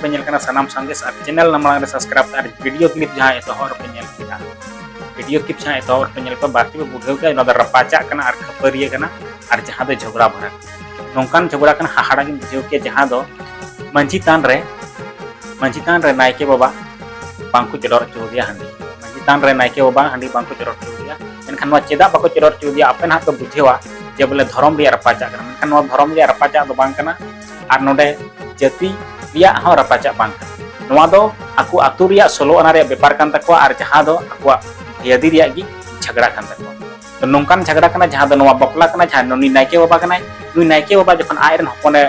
ᱯᱮ ᱧᱮᱞ ᱠᱟᱱᱟ ᱥᱟᱱᱟᱢ ᱥᱟᱸᱫᱮᱥ ᱟᱨ ᱪᱮᱱᱮᱞ ᱱᱟᱢᱟᱝ ᱨᱮ ᱥᱟᱵᱥᱠᱨᱟᱭᱤᱵ ᱟᱨ ᱵᱷᱤᱰᱤᱭᱳ ᱠᱞᱤᱯ ᱡᱟᱦᱟᱸ ᱮᱛᱚᱦᱚᱵ ᱨᱮᱯᱮ ᱧᱮᱞ ᱠᱮᱫᱟ ᱵᱷᱤᱰᱤᱭᱳ ᱠᱤᱯ ᱡᱟᱦᱟᱸ ᱮᱛᱚᱦᱚᱵ ᱨᱮᱯᱮ ᱧᱮᱞ ᱠᱚᱣᱟ ᱵᱟᱨᱛᱮ ᱯᱮ ᱵᱩᱰᱷᱟᱹᱣ ᱠᱮᱫᱟ ᱚᱱᱟ ᱫᱚ ᱨᱟᱯᱟᱪᱟᱜ ᱠᱟᱱᱟ ᱟᱨ ᱠᱷᱟᱹᱯᱟᱹᱨᱤᱭᱟᱹ ᱠᱟᱱᱟ ᱟᱨ ᱡᱟᱦᱟᱸ ᱫᱚ ᱡᱷᱚᱜᱽᱲᱟ ᱵᱷᱚᱨᱟ ᱱᱚᱝᱠᱟᱱ ᱡᱷᱚᱜᱽᱲᱟ ᱠᱟᱱᱟ ᱦᱟᱦᱟᱲᱟ ᱜᱮᱢ ᱵᱩᱡᱷᱟᱹᱣ ᱠᱮᱭᱟ ᱡᱟᱦᱟᱸ ᱫᱚ ᱢᱟᱹᱡᱷᱤ ᱛᱟᱱ ᱨᱮ ᱢᱟᱹᱡᱷᱤ ᱛᱟᱱ ᱨᱮ ᱱᱟᱭᱠᱮ ᱵᱟᱵᱟ ᱵᱟᱝᱠᱚ ᱪᱚᱰᱚᱨ ᱦᱚᱪᱚ ᱟᱫᱮᱭᱟ ᱦᱟᱺᱰᱤ ᱢᱟᱹᱡᱷᱤ ᱛᱟᱱ ᱨᱮ ᱱᱟᱭᱠᱮ ᱵᱟᱵᱟ ᱦᱟᱺᱰᱤ ᱵᱟᱝᱠᱚ ᱪᱚᱰᱚᱨ ᱦᱚᱪᱚ ᱟᱫᱮᱭᱟ ᱢᱮᱱᱠᱷᱟᱱ ᱱᱚᱣᱟ ᱪᱮᱫᱟᱜ ᱵᱟᱠᱚ ᱪᱚᱰᱚᱨ ᱦᱚᱪᱚ ᱟᱫᱮᱭᱟ ᱟᱯᱮ ᱱᱟᱦᱟᱜ ᱯᱮ ᱵᱩᱡᱷᱟᱹᱣᱟ ᱡᱮ ᱵᱚᱞᱮ ᱫᱷᱚᱨᱚᱢ ᱨᱮᱭᱟᱜ ᱨᱟᱯᱟᱪᱟᱜ ᱠᱟᱱᱟ ᱢᱮᱱᱠᱷᱟᱱ ᱱᱚᱣᱟ ᱫᱷᱚᱨᱚᱢ ᱨᱮᱭᱟᱜ ᱨᱟᱯᱟᱪᱟᱜ ᱫᱚ ᱵᱟᱝ ᱠᱟᱱᱟ ᱟᱨ ᱱᱚᱰᱮ ᱡᱟᱹᱛᱤ ᱨᱮᱭᱟᱜ ᱦᱚᱸ ᱨᱟᱯᱟᱪᱟᱜ ᱵᱟᱝ ᱠᱟᱱᱟ ᱱᱚᱣᱟ ᱫᱚ ᱟᱠᱚ ᱟᱛᱳ ᱨᱮᱭᱟᱜ ᱥᱳᱞᱳ ᱟᱱᱟ ᱨᱮᱭᱟᱜ ᱵᱮᱯᱟᱨ ᱠᱟᱱ ᱛᱟᱠᱚᱣᱟ ᱟᱨ ᱡᱟᱦᱟᱸ ᱫᱚ ᱟᱠᱚᱣᱟᱜ ᱦᱤᱭᱟᱹᱫᱤ ᱨᱮᱭᱟᱜ ᱜᱮ ᱡᱷᱟᱜᱽᱲᱟ ᱠᱟᱱ ᱛᱟᱠᱚᱣᱟ ᱛᱚ ᱱᱚᱝᱠᱟᱱ ᱡᱷᱟᱜᱽᱲᱟ ᱠᱟᱱᱟ ᱡᱟᱦᱟᱸ ᱫᱚ ᱱᱚᱣᱟ ᱵᱟᱯᱞᱟ ᱠᱟᱱᱟ ᱡᱟᱦᱟᱸ ᱱᱩᱱᱤ ᱱᱟᱭᱠᱮ ᱵᱟᱵᱟ ᱠᱟᱱᱟᱭ ᱱᱩᱭ ᱱᱟᱭᱠᱮ ᱵᱟᱵᱟ ᱡᱚᱠᱷᱚᱱ ᱟᱡ ᱨᱮᱱ ᱦᱚᱯᱚᱱᱮ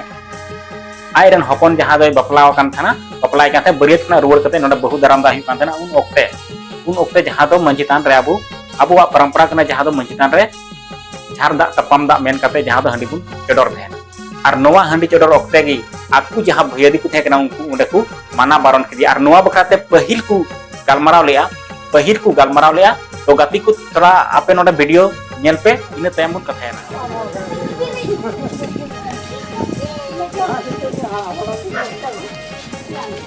ᱟᱡ ᱨᱮᱱ ᱦᱚᱯᱚᱱ ᱡᱟᱦᱟᱸ ᱫᱚᱭ ᱵᱟᱯᱞᱟ ᱟᱠᱟᱱ ᱛᱟᱦᱮᱱᱟ ᱵᱟᱯᱞᱟᱭ ᱠᱟᱱ ᱛᱟᱦᱮᱸ ᱵᱟᱹᱨᱭᱟᱹᱛ ᱠᱷᱚᱱᱟᱜ ᱨᱩᱣᱟᱹᱲ ᱠᱟᱛᱮ ᱱᱚᱰᱮ ᱵᱟᱹᱦᱩ ᱫᱟᱨᱟᱢ ᱫᱟ ᱦᱩᱭᱩᱜ ᱠᱟᱱ ᱛᱟᱦᱮᱱᱟ ᱩᱱ ᱚᱠᱛᱮ ᱩᱱ ᱚᱠᱛᱮ ᱡᱟᱦᱟᱸ ᱫᱚ ᱢᱟᱹᱡᱷᱤ ᱛᱷᱟᱱ ᱨᱮ ᱟᱵᱚ ᱟᱵᱚᱣᱟᱜ ᱯᱚᱨᱚᱢᱯᱚᱨᱟ ᱠᱟᱱᱟ ᱡᱟᱦᱟᱸ ᱫᱚ ᱢᱟᱹᱡᱷᱤ ᱛᱷᱟᱱ ᱨᱮ ᱡᱷᱟᱨ ᱫᱟᱜ ᱛᱟᱯᱟᱢ ᱫᱟᱜ ᱢᱮᱱ ᱠᱟᱛᱮ ᱡᱟᱦᱟᱸ ᱫᱚ ᱦᱟᱺᱰᱤ ᱵᱚᱱ ᱪᱚᱰᱚᱨ ᱛᱟᱦᱮᱱᱟ ᱟᱨ ᱱᱚᱣᱟ ᱦᱟᱺᱰᱤ ᱪᱚᱰᱚᱨ ᱚᱠᱛᱮ ᱜᱮ ᱟᱠᱚ ᱡᱟᱦᱟᱸ ᱵᱷᱟᱹᱭᱟᱹᱫᱤ ᱠᱚ ᱛᱟᱦᱮᱸ ᱠᱟᱱᱟ ᱩᱱᱠᱩ ᱚᱸᱰᱮ ᱠᱚ ᱢᱟᱱᱟ ᱵᱟᱨᱚᱱ ᱠᱮᱫᱮᱭᱟ ᱟᱨ ᱱᱚᱣᱟ ᱵᱟᱠᱷᱨᱟ ᱛᱮ ᱯᱟᱹᱦᱤᱞ ᱠᱚ ᱜᱟᱞᱢᱟᱨᱟᱣ ᱞᱮᱜᱼᱟ ᱯᱟᱹᱦᱤᱞ ᱠᱚ ᱜᱟᱞᱢᱟᱨᱟᱣ ᱞᱮᱜᱼᱟ ᱛᱚ ᱜᱟᱛᱮ ᱠᱚ ᱛᱷᱚᱲᱟ ᱟᱯᱮ ᱱᱚᱰᱮ ᱵᱷᱤᱰᱤᱭᱳ ᱧᱮᱞ ᱯᱮ ᱤᱱᱟᱹ ᱛᱟᱭᱚᱢ ᱵᱚᱱ ᱠᱟᱛᱷᱟᱭᱮᱱᱟ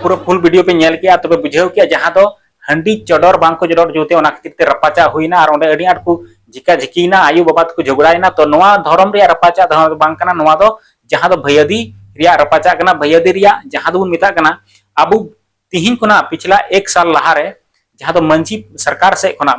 ᱯᱩᱨᱟᱹ ᱯᱷᱩᱞ ᱵᱷᱤᱰᱤᱭᱳ ᱯᱮ ᱧᱮᱞ ᱠᱮᱜᱼᱟ ᱛᱚᱵᱮ ᱵᱩᱡᱷᱟᱹᱣ ᱠᱮᱜᱼᱟ ᱡᱟᱦᱟᱸ ᱫᱚ ᱦᱟᱺᱰᱤ ᱪᱚᱰᱚᱨ ᱵᱟᱝ ᱠᱚ ᱪᱚᱰᱚᱨ ᱡᱩᱛᱮ ᱚᱱᱟ ᱠᱷᱟᱹᱛᱤᱨ ᱛᱮ ᱨᱟᱯᱟᱪᱟᱜ ᱦᱩᱭᱱᱟ ᱟᱨ ᱚᱸᱰᱮ ᱟᱹᱰᱤ ᱟᱸᱴ ᱠᱚ ᱡᱷᱤᱠᱟ ᱡᱷᱤᱠᱤᱭᱮᱱᱟ ᱟᱭᱳ ᱵᱟᱵᱟ ᱛᱮᱠᱚ ᱡᱷᱚᱜᱽᱲᱟᱭᱮᱱᱟ ᱛᱚ ᱱᱚᱣᱟ ᱫᱷᱚᱨᱚᱢ ᱨᱮᱭᱟᱜ ᱨᱟᱯᱟᱪᱟᱜ ᱫᱷᱚᱨᱚᱢ ᱫᱚ ᱵᱟᱝ ᱠᱟᱱᱟ ᱱᱚᱣᱟ ᱫᱚ ᱡᱟᱦᱟᱸ ᱫᱚ ᱵᱷᱟᱹᱭᱟᱹᱫᱤ ᱨᱮᱭᱟᱜ ᱨᱟᱯᱟᱪᱟᱜ ᱠᱟᱱᱟ ᱵᱷᱟᱹᱭᱟᱹᱫᱤ ᱨᱮᱭᱟᱜ ᱡᱟᱦᱟᱸ ᱫᱚᱵᱚᱱ ᱢᱮᱛᱟᱜ ᱠᱟᱱᱟ ᱟᱵᱚ ᱛᱤᱦᱤᱧ ᱠᱷᱚᱱᱟᱜ ᱯᱤᱪᱷᱞᱟ ᱮᱠ ᱥᱟᱞ ᱞᱟᱦᱟᱨᱮ ᱡᱟᱦᱟᱸ ᱫᱚ ᱢᱟᱹᱡᱷᱤ ᱥᱚᱨᱠᱟᱨ ᱥᱮᱫ ᱠᱷᱚᱱᱟᱜ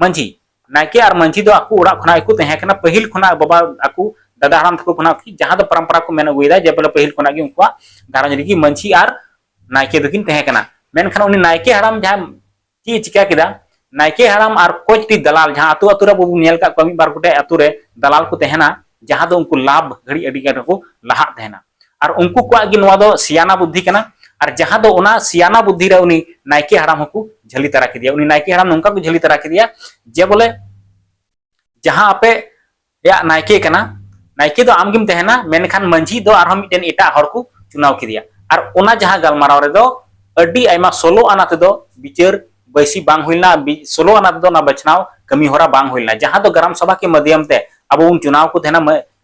ᱢᱟᱹᱡᱷᱤ ᱱᱟᱭᱠᱮ ᱟᱨ ᱢᱟᱹᱡᱷᱤ ᱫᱚ ᱟᱠᱚ ᱚᱲᱟᱜ ᱠᱷᱚᱱᱟᱜ ᱜᱮᱠᱚ ᱛᱟᱦᱮᱸ ᱠᱟᱱᱟ ᱯᱟᱹᱦᱤᱞ ᱠᱷᱚᱱᱟᱜ ᱵᱟᱵᱟ ᱟᱠᱚ ᱫᱟᱫᱟ ᱦᱟᱲᱟᱢ ᱛᱟᱠᱚ ᱠᱷᱚᱱᱟᱜ ᱠᱤ ᱡᱟᱦᱟᱸ ᱫᱚ ᱯᱚᱨᱚᱢᱯᱚᱨᱟ ᱠᱚ ᱢᱮᱱ ᱟᱹᱜᱩᱭᱮᱫᱟ ᱡᱮ ᱵᱚᱞᱮ ᱯᱟᱹᱦᱤᱞ ᱠᱷᱚᱱᱟᱜ ᱜᱮ ᱩᱱᱠᱩᱣᱟᱜ ᱜᱷᱟᱨᱚᱸᱡᱽ ᱨᱮᱜᱮ ᱢᱟᱹᱡᱷᱤ ᱟᱨ ᱱᱟᱭᱠᱮ ᱫᱚᱠᱤᱱ ᱛᱟᱦᱮᱸ ᱠᱟᱱᱟ ᱢᱮᱱᱠᱷᱟᱱ ᱩᱱᱤ ᱱᱟᱭᱠᱮ ᱦᱟᱲᱟᱢ ᱡᱟᱦᱟᱸ ᱪᱮᱫ ᱮ ᱪᱤᱠᱟᱹ ᱠᱮᱫᱟ ᱱᱟᱭᱠᱮ ᱦᱟᱲᱟᱢ ᱟᱨ ᱠᱚᱪᱴᱤ ᱫᱟᱞᱟᱞ ᱡᱟᱦᱟᱸ ᱟᱛᱳ ᱟᱛᱳ ᱨᱮ ᱵᱚᱱ ᱧᱮᱞ ᱠᱟᱜ ᱠᱚᱣᱟ ᱢᱤᱫ ᱵᱟᱨ ᱜᱚᱴᱮᱡ ᱟᱛᱳ ᱨᱮ ᱫᱟᱞᱟᱞ ᱠᱚ ᱛᱟᱦᱮᱱᱟ ᱡᱟᱦᱟᱸ ᱫᱚ ᱩᱱᱠᱩ ᱞᱟᱵᱷ ᱜᱷᱟᱹᱲᱤ ᱟᱹᱰᱤ ᱜᱟᱱ ᱠᱚ ᱞᱟᱦᱟᱜ ᱛᱟᱦᱮᱱᱟ ᱟᱨ ᱩᱱᱠᱩ ᱠᱚᱣᱟᱜ ᱜᱮ ᱱᱚᱣᱟ ᱫᱚ ᱥᱤᱭᱟᱱᱟ ᱵᱩᱫᱽᱫᱷᱤ ᱠᱟᱱᱟ ᱟᱨ ᱡᱟᱦᱟᱸ ᱫᱚ ᱚᱱᱟ ᱥᱤᱭᱟᱱᱟ ᱵᱩᱫᱽᱫᱷᱤ ᱨᱮ ᱩᱱᱤ ᱱᱟᱭᱠᱮ ᱦᱟᱲᱟᱢ ᱦᱚᱸᱠᱚ ᱡᱷᱟᱹᱞᱤ ᱛᱟᱨᱟ ᱠᱮᱫᱮᱭᱟ ᱩᱱᱤ ᱱᱟᱭᱠᱮ ᱦᱟᱲᱟᱢ ᱱᱚᱝᱠᱟ ᱠᱚ ᱡᱷᱟᱹᱞᱤ ᱛᱟᱨᱟ ᱠᱮᱫᱮᱭᱟ ᱡᱮ ᱵᱚᱞᱮ ᱡᱟᱦᱟᱸ ᱟᱯᱮ ᱭᱟᱜ ᱱᱟᱭᱠᱮ ᱠᱟᱱᱟ ᱱᱟᱭᱠᱮ ᱫᱚ ᱟᱢ ᱜᱮᱢ ᱛᱟᱦᱮᱱᱟ ᱢᱮᱱᱠᱷᱟᱱ ᱢᱟᱹᱡᱷᱤ ᱫᱚ ᱟᱨᱦᱚᱸ ᱢᱤᱫᱴᱮᱱ ᱮᱴᱟᱜ ᱦᱚᱲ ᱠᱚ ᱪᱩᱱᱟᱣ ᱠᱮᱫᱮᱭᱟ ᱟᱨ ᱚᱱᱟ ᱡᱟᱦᱟᱸ ᱜᱟᱞᱢᱟᱨᱟᱣ ᱨᱮᱫᱚ ᱟᱹᱰᱤ ᱟᱭᱢᱟ ᱥᱳᱞᱳ ᱟᱱᱟ ᱛᱮᱫᱚ ᱵᱤᱪᱟᱹᱨ ᱵᱟᱹᱭᱥᱤ ᱵᱟᱝ ᱦᱩᱭ ᱞᱮᱱᱟ ᱥᱳᱞᱳ ᱟᱱᱟ ᱛᱮᱫᱚ ᱚᱱᱟ ᱵᱟᱪᱷᱱᱟᱣ ᱠᱟᱹᱢᱤ ᱦᱚᱨᱟ ᱵᱟᱝ ᱦᱩᱭ ᱞᱮᱱᱟ ᱡᱟᱦᱟᱸ ᱫᱚ ᱜᱨᱟᱢ ᱥᱚᱵᱷᱟ ᱠᱮ ᱢᱟᱫᱷᱭᱚᱢ ᱛᱮ ᱟᱵᱚ ᱵᱚᱱ ᱪᱩᱱᱟᱣ ᱠᱚ ᱛᱟᱦᱮᱱᱟ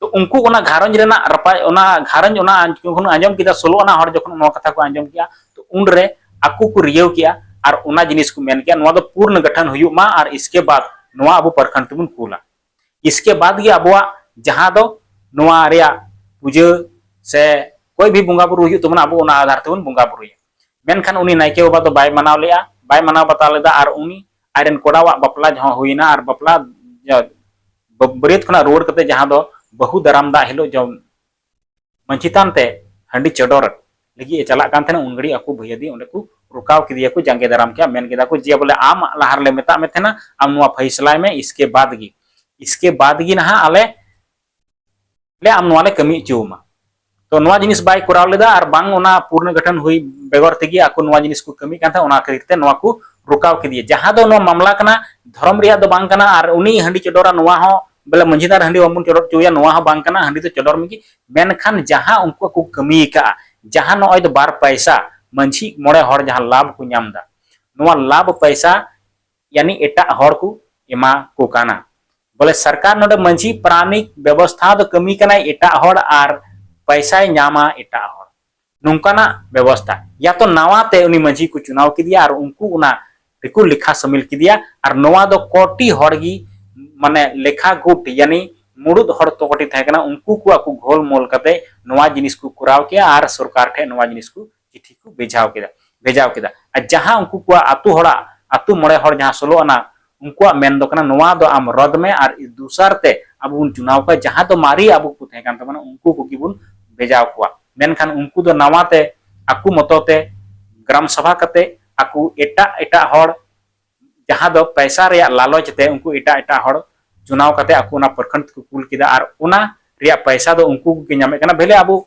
ᱛᱚ ᱩᱱᱠᱩ ᱚᱱᱟ ᱜᱷᱟᱨᱚᱸᱡᱽ ᱨᱮᱱᱟᱜ ᱨᱟᱯᱟᱡ ᱚᱱᱟ ᱜᱷᱟᱨᱚᱸᱡᱽ ᱚᱱᱟ ᱡᱚᱠᱷᱚᱱ ᱟᱸᱡᱚᱢ ᱠᱮᱫᱟ ᱥᱳᱞᱳ ᱟᱱᱟ ᱦᱚᱲ ᱡᱚᱠᱷᱚᱱ ᱱᱚᱣᱟ ᱠᱟᱛᱷᱟ ᱠᱚ ᱟᱸᱡᱚᱢ ᱠᱮᱜᱼᱟ ᱛᱚ ᱩᱱ ᱨᱮ ᱟᱠᱚ ᱠᱚ ᱨᱤᱭᱟᱹᱣ ᱠᱮᱜᱼᱟ ᱟᱨ ᱚᱱᱟ ᱡᱤᱱᱤᱥ ᱠᱚ ᱢᱮᱱ ᱠᱮᱜᱼᱟ ᱱᱚᱣᱟ ᱫᱚ ᱯᱩᱨᱱ ᱜᱚᱴᱷᱚᱱ ᱦᱩᱭᱩᱜ ᱢᱟ ᱟᱨ ᱤᱥᱠᱮ ᱵᱟᱫ ᱱᱚᱣᱟ ᱟᱵᱚ ᱯᱨᱚᱠᱷᱚᱸᱰ ᱛᱮᱵᱚᱱ ᱠᱩᱞᱟ ᱤᱥᱠᱮ ᱵᱟᱫ ᱜᱮ ᱟᱵᱚᱣᱟᱜ ᱡᱟᱦᱟᱸ ᱫᱚ ᱱᱚᱣᱟ ᱨᱮᱭᱟᱜ ᱯᱩᱡᱟᱹ ᱥᱮ ᱠᱚᱭ ᱵᱷᱤ ᱵᱚᱸᱜᱟ ᱵᱩᱨᱩ ᱦᱩᱭᱩᱜ ᱛᱟᱵᱚᱱᱟ ᱟᱵᱚ ᱚᱱᱟ ᱟᱫᱷᱟᱨ ᱛᱮᱵᱚᱱ ᱵᱚᱸᱜᱟ ᱵᱩᱨᱩᱭᱟ ᱢᱮᱱᱠᱷᱟᱱ ᱩᱱᱤ ᱱᱟᱭᱠᱮ ᱵᱟᱵᱟ ᱫᱚ ᱵᱟᱭ ᱢᱟᱱᱟᱣ ᱞᱮᱜᱼᱟ ᱵᱟᱭ ᱢᱟᱱᱟᱣ ᱵᱟᱛᱟᱣ ᱞᱮᱫᱟ ᱟᱨ ᱩᱱᱤ ᱟᱡ ᱨᱮᱱ ᱠᱚᱲᱟ ᱣᱟᱜ ᱵᱟᱯᱞᱟ ᱡᱚᱦᱚᱜ ᱦᱩᱭ ᱮᱱᱟ ᱟᱨ ᱵᱟᱯᱞᱟ ᱵᱟᱹᱨᱭᱟᱹᱛ ᱠᱷᱚᱱᱟᱜ ᱨᱩᱣᱟᱹᱲ ᱠᱟᱛᱮ ᱡᱟᱦᱟᱸ ᱫᱚ ᱵᱟᱹᱦᱩ ᱫᱟᱨᱟᱢ ᱫᱟᱜ ᱦᱤᱞᱳᱜ ᱡᱚᱢ ᱢᱟᱹᱡᱷᱤ ᱛᱷᱟᱱ ᱛᱮ ᱦᱟᱺᱰᱤ ᱪᱚᱰᱚᱨ ᱞᱟᱹᱜᱤᱫ ᱮ ᱪᱟᱞᱟᱜ ᱠᱟᱱ ᱛᱟᱦᱮᱱᱟ ᱩᱱ ᱜᱷᱟᱹᱲᱤᱡ ᱟᱠᱚ ᱵᱷᱟᱹᱭᱟᱹᱫᱤ ᱚᱸᱰᱮ ᱠᱚ ᱨᱚᱠᱟᱣ ᱠᱮᱫᱮᱭᱟ ᱠᱚ ᱡᱟᱸᱜᱮ ᱫᱟᱨᱟᱢ ᱠᱮᱫᱟ ᱢᱮᱱ ᱠᱮᱫᱟ ᱠᱚ ᱡᱮ ᱵᱚᱞᱮ ᱟᱢ ᱞᱟᱦᱟ ᱨᱮᱞᱮ ᱢᱮᱛᱟᱜ ᱢᱮ ᱛᱟᱦᱮᱱᱟ ᱟᱢ ᱱᱚᱣᱟ ᱯᱷᱟᱭᱥᱞᱟᱭ ᱢᱮ ᱤᱥᱠᱮ ᱵᱟᱫ ᱜᱮ ᱤᱥᱠᱮ ᱵᱟᱫ ᱜᱮ ᱱᱟᱦᱟᱜ ᱟᱞᱮ ᱞᱮ ᱟᱢ ᱱᱚᱣᱟ ᱞᱮ ᱠᱟᱹᱢᱤ ᱦᱚᱪᱚ ᱟᱢᱟ ᱛᱚ ᱱᱚᱣᱟ ᱡᱤᱱᱤᱥ ᱵᱟᱭ ᱠᱚᱨᱟᱣ ᱞᱮᱫᱟ ᱟᱨ ᱵᱟᱝ ᱚᱱᱟ ᱯᱩᱨᱱᱚ ᱜᱚᱴᱷᱚᱱ ᱦᱩᱭ ᱵᱮᱜᱚᱨ ᱛᱮᱜᱮ ᱟᱠᱚ ᱱᱚᱣᱟ ᱡᱤᱱᱤᱥ ᱠᱚ ᱠᱟᱹᱢᱤ ᱠᱟᱱ ᱛᱟᱦᱮᱸ ᱚᱱᱟ ᱠᱷᱟᱹᱛᱤᱨ ᱛᱮ ᱱᱚᱣᱟ ᱠᱚ ᱨᱩᱠᱟᱣ ᱠᱮᱫᱮᱭᱟ ᱡᱟᱦᱟᱸ ᱫᱚ ᱱᱚᱣᱟ ᱢᱟᱢᱞᱟ ᱠᱟᱱᱟ ᱫᱷᱚᱨᱚᱢ ᱨᱮᱭᱟᱜ ᱫᱚ ᱵᱟᱝ ᱠᱟᱱᱟ ᱟᱨ ᱩᱱᱤ ᱦᱟᱺᱰᱤ ᱪᱚᱰᱚᱨᱟ ᱱᱚᱣᱟ ᱦᱚᱸ ᱵᱚᱞᱮ ᱢᱟᱹᱡᱷᱤ ᱫᱟᱨ ᱦᱟᱺᱰᱤ ᱵᱟᱵᱚᱱ ᱪᱚᱰᱚᱨ ᱦᱚᱪᱚᱭᱟ ᱱᱚᱣᱟ ᱦᱚᱸ ᱵᱟᱝ ᱠᱟᱱᱟ ᱦᱟᱺᱰᱤ ᱫᱚ ᱪᱚᱰᱚᱨ ᱢᱮᱜᱮ ᱢᱮᱱᱠᱷᱟᱱ ᱡᱟᱦᱟᱸ ᱩᱱᱠᱩ ᱠᱚ ᱠᱟᱹᱢᱤ ᱟᱠᱟᱜᱼᱟ ᱡᱟᱦᱟᱸ ᱱᱚᱜᱼᱚᱭ ᱫᱚ ᱵᱟᱨ ᱯᱟᱭᱥᱟ ᱢᱟᱹᱡᱷᱤ ᱢᱚᱬᱮ ᱦᱚᱲ ᱡᱟᱦᱟᱸ ᱞᱟᱵᱷ ᱠᱚ ᱧᱟᱢ ᱮᱫᱟ ᱱᱚᱣᱟ ᱞᱟᱵᱷ ᱯᱟᱭᱥᱟ ᱭᱟᱱᱤ ᱮᱴᱟᱜ ᱦᱚᱲ ᱠᱚ ᱮᱢᱟ ᱠᱚ ᱠᱟᱱᱟ᱾ ᱵᱚᱞᱮ ᱥᱟᱨᱠᱟᱨ ᱱᱚᱰᱮ ᱢᱟᱹᱡᱷᱤ ᱯᱟᱨᱟᱱᱤᱠ ᱵᱮᱵᱚᱥᱛᱷᱟ ᱫᱚ ᱠᱟᱹᱢᱤ ᱠᱟᱱᱟᱭ ᱮᱴᱟᱜ ᱦᱚᱲ ᱟᱨ ᱯᱟᱭᱥᱟᱭ ᱧᱟᱢᱟ ᱮᱴᱟᱜ ᱦᱚᱲ᱾ ᱱᱚᱝᱠᱟᱱᱟᱜ ᱵᱮᱵᱚᱥᱛᱷᱟ᱾ ᱭᱟ ᱛᱚ ᱱᱟᱣᱟ ᱛᱮ ᱩᱱᱤ ᱢᱟᱹᱡᱷᱤ ᱠᱚ ᱪᱩᱱᱟᱣ ᱠᱮᱫᱮᱭᱟ ᱟᱨ ᱩᱱᱠᱩ ᱚᱱᱟ ᱨᱮᱠᱚ ᱞᱮᱠᱷᱟ ᱥᱟᱹᱢᱤᱞ ᱠᱮᱫᱮᱭᱟ ᱟᱨ ᱱᱚᱣᱟ ᱫᱚ ᱠᱚᱴᱤ ᱦᱚᱲ ᱜᱮ ᱢᱟᱱᱮ ᱞᱮᱠᱷᱟ ᱜᱩᱴ ᱭᱟᱱᱤ ᱢᱩᱲᱩᱫ ᱦᱚᱲ ᱛᱚ ᱠᱚᱴᱤ ᱛᱟᱦᱮᱸ ᱠᱟᱱᱟ ᱩᱱᱠᱩ ᱠᱚ ᱟᱠᱚ ᱜᱷᱳᱞ ᱢᱳᱞ ᱠᱟᱛᱮ ᱱᱚᱣᱟ ᱡᱤᱱᱤᱥ ᱠᱚ ᱠᱚᱨᱟᱣ ᱠᱮᱜᱼᱟ ᱟᱨ ᱥᱚᱨᱠᱟᱨ ᱴᱷᱮᱱ ᱱᱚᱣᱟ ᱡᱤᱱᱤᱥ ᱠᱚ ᱪᱤᱴᱷᱤ ᱠᱚ ᱵᱷᱮᱡᱟᱣ ᱠᱮᱫᱟ ᱵᱷᱮᱡᱟᱣ ᱠᱮᱫᱟ ᱟᱨ ᱡᱟᱦᱟᱸ ᱩᱱᱠᱩ ᱠᱚᱣᱟᱜ ᱟᱛᱳ ᱦᱚᱲᱟᱜ ᱟᱛᱳ ᱢᱚᱬᱮ ᱦᱚᱲ ᱡᱟᱦᱟᱸ ᱥᱳᱞᱳ ᱟᱱᱟ ᱩᱱᱠᱩᱣᱟᱜ ᱢᱮᱱ ᱫᱚ ᱠᱟᱱᱟ ᱱᱚᱣᱟ ᱫᱚ ᱟᱢ ᱨᱚᱫ ᱢᱮ ᱟᱨ ᱫᱩᱥᱟᱨ ᱛᱮ ᱟᱵᱚ ᱵᱚᱱ ᱪᱩᱱᱟᱣ ᱠᱚᱣᱟ ᱡᱟᱦᱟᱸ ᱫᱚ ᱢᱟᱨᱮ ᱟᱵᱚ ᱠᱚ ᱛᱟᱦᱮᱸ ᱠᱟᱱ ᱛᱟᱵᱚᱱᱟ ᱩᱱᱠᱩ ᱠᱚᱜᱮ ᱵᱚᱱ ᱵᱷᱮᱡᱟᱣ ᱠᱚᱣᱟ ᱢᱮᱱᱠᱷᱟᱱ ᱩᱱᱠᱩ ᱫᱚ ᱱᱟᱣᱟ ᱛᱮ ᱟᱠᱚ ᱢᱚᱛᱚ ᱛᱮ ᱜᱨᱟᱢ ᱥᱚᱵᱷᱟ ᱠᱟᱛᱮ ᱟᱠᱚ ᱮᱴᱟᱜ ᱮᱴᱟᱜ ᱦᱚᱲ ᱡᱟᱦᱟᱸ ᱫᱚ ᱯᱟᱭᱥᱟ ᱨᱮᱭᱟᱜ ᱞᱟᱞᱚᱪ ᱛᱮ ᱩᱱᱠᱩ ᱮᱴᱟᱜ ᱮᱴᱟᱜ ᱦᱚᱲ ᱪᱩᱱᱟᱣ ᱠᱟᱛᱮ ᱟᱠᱚ ᱚᱱᱟ ᱯᱨᱚᱠᱷᱚᱸᱰ ᱛᱮᱠᱚ ᱠᱩᱞ ᱠᱮᱫᱟ ᱟᱨ ᱚᱱᱟ ᱨᱮᱭᱟᱜ ᱯᱟᱭᱥᱟ ᱫᱚ ᱩᱱᱠᱩ ᱠᱚᱜᱮ ᱧᱟᱢᱮᱫ ᱠᱟᱱᱟ ᱵᱷᱮᱞᱮ ᱟᱵᱚ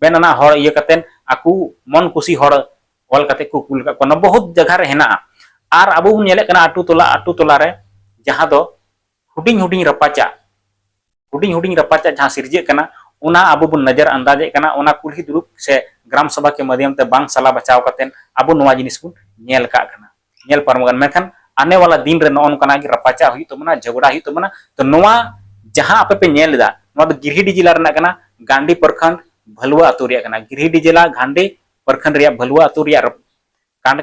ᱢᱮᱱ ᱟᱱᱟᱜ ᱦᱚᱲ ᱤᱭᱟᱹ ᱠᱟᱛᱮ ᱟᱠᱚ ᱢᱚᱱ ᱠᱩᱥᱤ ᱦᱚᱲ ᱚᱞ ᱠᱟᱛᱮ ᱠᱚ ᱠᱩᱞ ᱠᱟᱜ ᱠᱚᱣᱟ ᱵᱚᱦᱩᱛ ᱡᱟᱭᱜᱟ ᱨᱮ ᱦᱮᱱᱟᱜᱼᱟ ᱟᱨ ᱟᱵᱚ ᱵᱚᱱ ᱧᱮᱞᱮᱫ ᱠᱟᱱᱟ ᱟᱹᱛᱩ ᱴᱚᱞᱟ ᱟᱹᱛᱩ ᱴᱚᱞᱟ ᱨᱮ ᱡᱟᱦᱟᱸ ᱫᱚ ᱦᱩᱰᱤᱧ ᱦᱩᱰᱤᱧ ᱨᱟᱯᱟᱪᱟᱜ ᱦᱩᱰᱤᱧ ᱦᱩᱰᱤᱧ ᱨᱟᱯᱟᱪᱟᱜ ᱡᱟᱦᱟᱸ ᱥᱤᱨᱡᱟᱹᱜ ᱠᱟᱱᱟ ᱚᱱᱟ ᱟᱵᱚ ᱵᱚᱱ ᱱᱚᱡᱚᱨ ᱟᱱᱫᱟᱡᱮᱫ ᱠᱟᱱᱟ ᱚᱱᱟ ᱠᱩᱞᱦᱤ ᱫᱩᱲᱩᱵ ᱥᱮ ᱜᱨᱟᱢ ᱥᱚᱵᱷᱟ ᱠᱮ ᱢᱟᱫᱷᱭᱚᱢ ᱛᱮ ᱵᱟᱝ ᱥᱟᱞᱟ ᱵᱟᱪᱟᱣ ᱠᱟᱛᱮ ᱟᱵᱚ ᱱᱚᱣᱟ ᱡᱤᱱᱤᱥ ᱵᱚᱱ ᱧᱮᱞ ᱠᱟᱜ ᱠᱟᱱᱟ ᱧᱮᱞ ᱯᱟᱨᱚᱢ ᱟᱠᱟᱱ ᱢᱮᱱᱠᱷᱟᱱ ᱟᱱᱮ ᱣᱟᱞᱟ ᱫᱤᱱ ᱨᱮ ᱱᱚᱜᱼᱚ ᱱᱚᱝᱠᱟᱱᱟᱜ ᱜᱮ ᱨᱟᱯᱟᱪᱟᱜ ᱦᱩᱭᱩᱜ ᱛᱟᱵᱚᱱᱟ ᱡᱷᱚᱜᱽᱲᱟ ᱦᱩᱭᱩᱜ ᱛᱟᱵᱚᱱᱟ ᱛᱚ ᱱᱚᱣᱟ ᱡᱟᱦᱟᱸ ᱟᱯᱮ ᱯᱮ ᱧᱮᱞ ᱮᱫᱟ ᱱᱚᱣᱟ ᱫᱚ ᱜᱤᱨᱤᱰᱤ ᱡᱮᱞᱟ ᱨᱮᱱᱟᱜ ᱠᱟᱱᱟ ᱜᱟᱱᱰᱤ ᱯᱨᱚᱠᱷᱚᱸᱰ ᱵᱷᱟᱞᱩᱣᱟ ᱟᱹᱛᱩ ᱨᱮᱭᱟᱜ ᱠᱟᱱᱟ ᱜᱤᱨᱤᱰᱤ ᱡᱮᱞᱟ ᱜᱟᱱᱰᱤ ᱯᱨᱚᱠᱷᱚᱸᱰ ᱨᱮᱭᱟᱜ ᱵᱷᱟᱞᱩᱣᱟ ᱟᱹᱛᱩ ᱨᱮᱭᱟᱜ ᱠᱟᱱᱰ